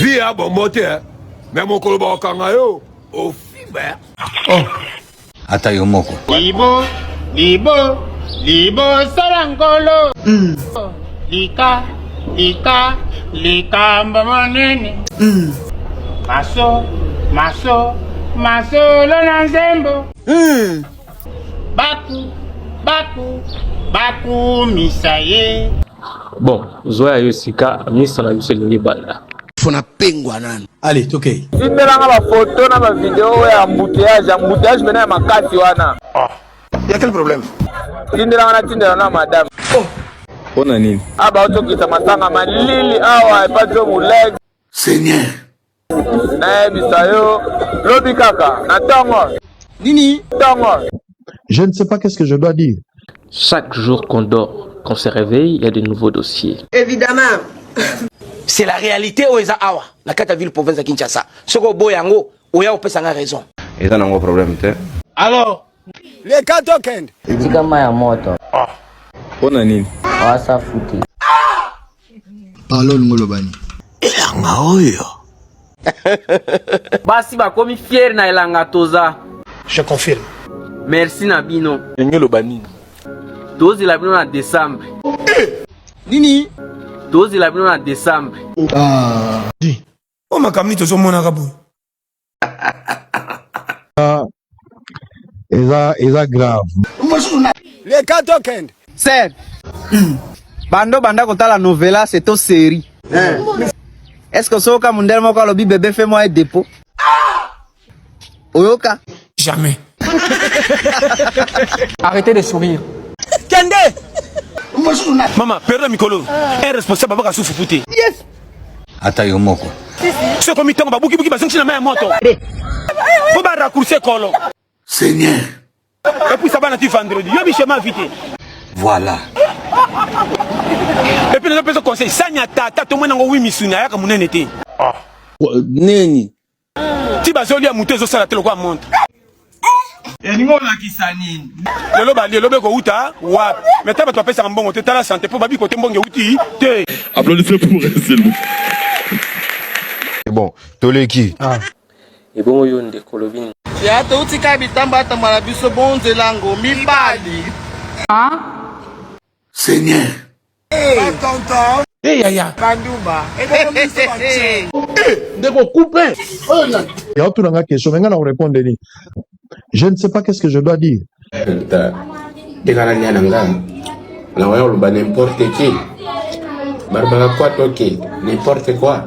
vie ya bombo te eh. me mokolo bakokanga yo ofimba eh. oh. ata yo moko libo libo libo sala ngolo mm. lika lika likambo monene mm. maso maso masolo na nzembo mm. baku baku bakumisa ye bon zwa ya yo sika misa na biso elingi banda fona pengwa nanu ale tokei tindelanga bafoto na bavideo oyo ya embouteillage embouteillage mpena ya makasi wana ah. ya quel problème tindelanga na tindela na madame oh. mpo na nini aba ah, otokisa masanga malili awa epa jo molege seigneur nayebisa yo lobi kaka na ntongo nini ntongo je ne sais pas qu'est-ce que je dois dire chaque jour qu'on dort qu'on se réveille il y a de nouveaux dossiers évidemment c'est la réalité oyo eza awa na kati ya ville province ya kinshasa soki oboya yango oya opesa nga raison eza nango problème te alors leka tokende etika mai ya moto ah. mpo na nini oasa futi Parlons ngolobani. Elanga oyo. Basi bakomi fier na elanga toza. Je confirme. Merci na bino. Ngoloba nini? Tozela bino na décembre. Eh! Nini? Tozela bino na décembre. Ah. Oh makamni tozomonaka boye. eza eza grave leka tokende ser bando banda kotala novela se to seri eh. est ce que soki ka mundele moko alobi bebe fe mwa ye depot oyoka jamais arrêtez de sourire kende mama perda mikolo un responsable abaka sufu fute yes ata yo moko soki ekomi ntango babukibuki bazongisi na mai ya moto mpo ba raccourci kolo seigneur epuisa bana ti vendredi yo bichema vite voilà epuis nazo pesa conseil sani ya tata tomoni yango wi misuni ayaka monene te ah. neni ti bazolia moto ezosala te lokola montre elingi olakisa nini lelo bali elobe kouta wapi me ta bato bapesaka mbongo te tala sante mpo babi kote mbongo euti te applaudissez pour Ezelou bon toleki ah. ebongo yo nde kolobi nini ya touti ka bitamba atamba na biso bonzelango mibali ah. seigneur Hey, yaya bandumba ndeko coupe ya otuna nga question me nga na korepondre nini je ne sais pas qu'est ce que je dois dire tekala lia na nga na waya oloba n'importe qui barbaka kwa toke n'importe quoi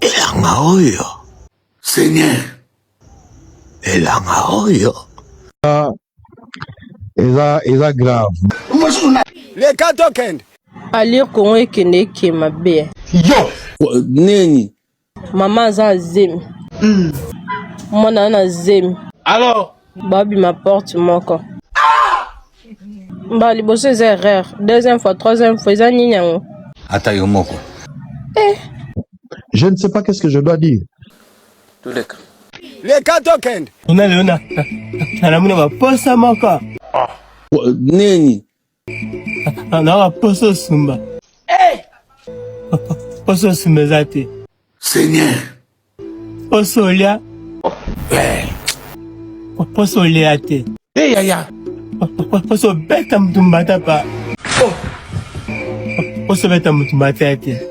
Elanga oyo. Seigneur. Elanga oyo. Ah, eza eza grave. Le cas tokende. Alir Congo ekende eke mabe. Yo. Neni. Mama aza zemi. Mm. Mwana na zemi. Alors. babima porte moko mbala liboso eza erreur deuxième fois troisième fois eza nini yango ata yo moko eh. je ne sais pas qu'est-ce que je dois dire toleka leka tokende ona leo nalamuna baposa moko ah. nini Alaka poso sumba. Eh! Poso sumba eza te. Seigneur. Poso olia. Eh. Poso olia te. Eh yaya. Poso beta mutu mbata pa. Oh. Poso beta mutu mbata te.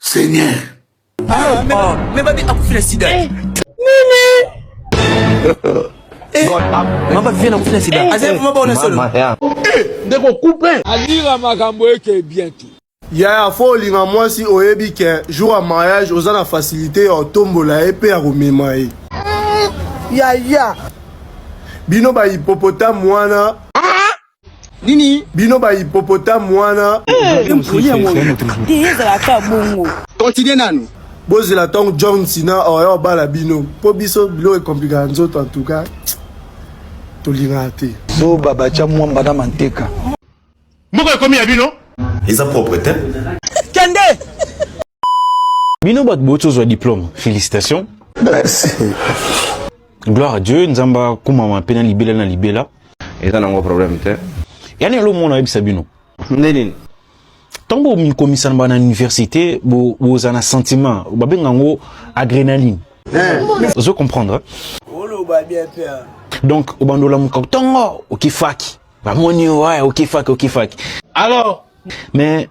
Seigneur. Ah, mais, oh. mais babi akufi na sida. Eh. Nini? Eh. Mama vient akufi na sida. Eh. Aza mama bona solo. Eh, ndeko coupe. Alira makambo eke bien tout. yaya fo olinga mwasi oyebi ke jour ya mariage oza na fasilité ya otombola ye mpe ya komema ye yaya bino bahipopotamu wana nini bino ba hippopotame wana ezalaka bongo continue nanu bozela ntango john sina oya oh, obala bino mpo biso biloko ekomplikaka nzoto en tout cas tolingaka te zoba batya mwamba na manteka moko ekomi ya bino eza propre te kende Bino bat botso zwa diplôme. Félicitations. Merci. Gloire à Dieu, nzamba kumama pe na libela na libela. Eza nango problème te. Yani alo mona yebisa bino. Ndenini. Tango mikomisa na bana université bo boza na sentiment, babenga ngo adrénaline. Eh. Ozo comprendre? Oloba bien pe. Donc obandola mukako tongo okifaki. Bamoni yo, ouais, okifaki, okifaki. Alors, mais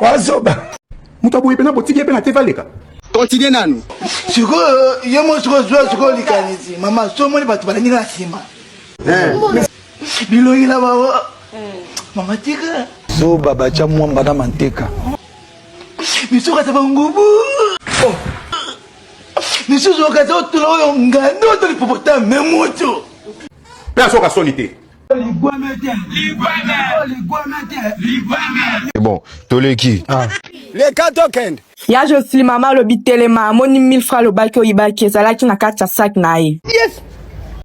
wazoba moto aboye mpena botiki ye mpe na te valeka continue nanu sikoyo yo mo sikoyo zwa sikoyo likanisi mama so omoni bato balangi na nsima eh. bilongi na bango mama tika zoba batya mwamba na manteka misuka za bangubu oh. misusu okaza otula oyo ngando to lipopotame moto mpe asoka soni te Bon, toleki. Ah. Les cas token. Ya Josli mama alobi telema amoni 1000 francs lobaki oyibaki ezalaki na kati ya sac na ye. Yes.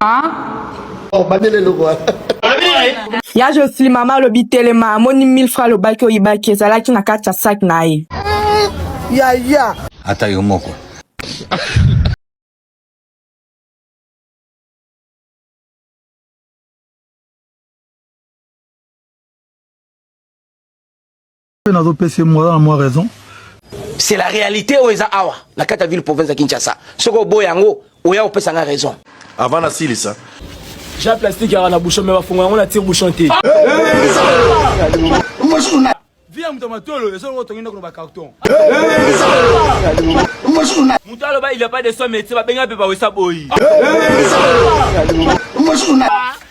Ah. Oh, bandele lobo. Ya Josli mama alobi telema amoni 1000 francs lobaki oyibaki ezalaki na kati ya sac na ye. Ya ya. Ata yo moko. nazo pesa ye mwa na mwa raison c'est la réalité oyo eza awa na kati ya ville province ya kinshasa soki oboya yango oya kopesa nga raison avant nasilisa ja plastique yaka na bouchon me bafongo yango na tire bouchon te Vie ya moto ya matolo ezo ngo tongi ndako na ba carton. Moto aloba il y a pas de soin médecin ba benga pe ba wesa boyi.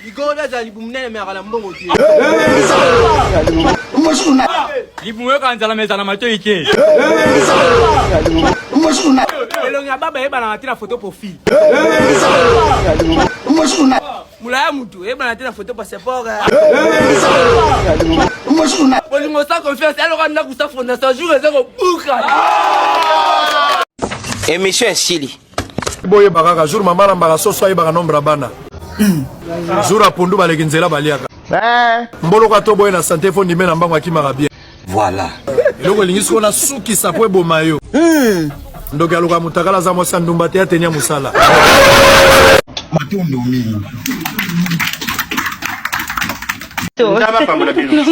Ligongo da za libumu nene me akala mbongo te. Libumu yo ka nzala meza na matoyi te. Elongi ya baba yeba na tina photo profil. mulaya mutu eyebana te na foto passeport bolingo sa confiance aloka ndako sa fondation jour eza kobuka emission esili boyeba kaka jour mama alambaka soso ayebaka nombre ya bana jour apondu baleki nzela baliaka mboloko ato boye na sante fo ndime na mbango akimaka bien Voilà. Eloko elingi siko na suki sapo eboma yo. Hmm. Ndoki aloka mutakala za mwasi ndumba te atenya musala. Matondo mingi. Ndaba pambola bino.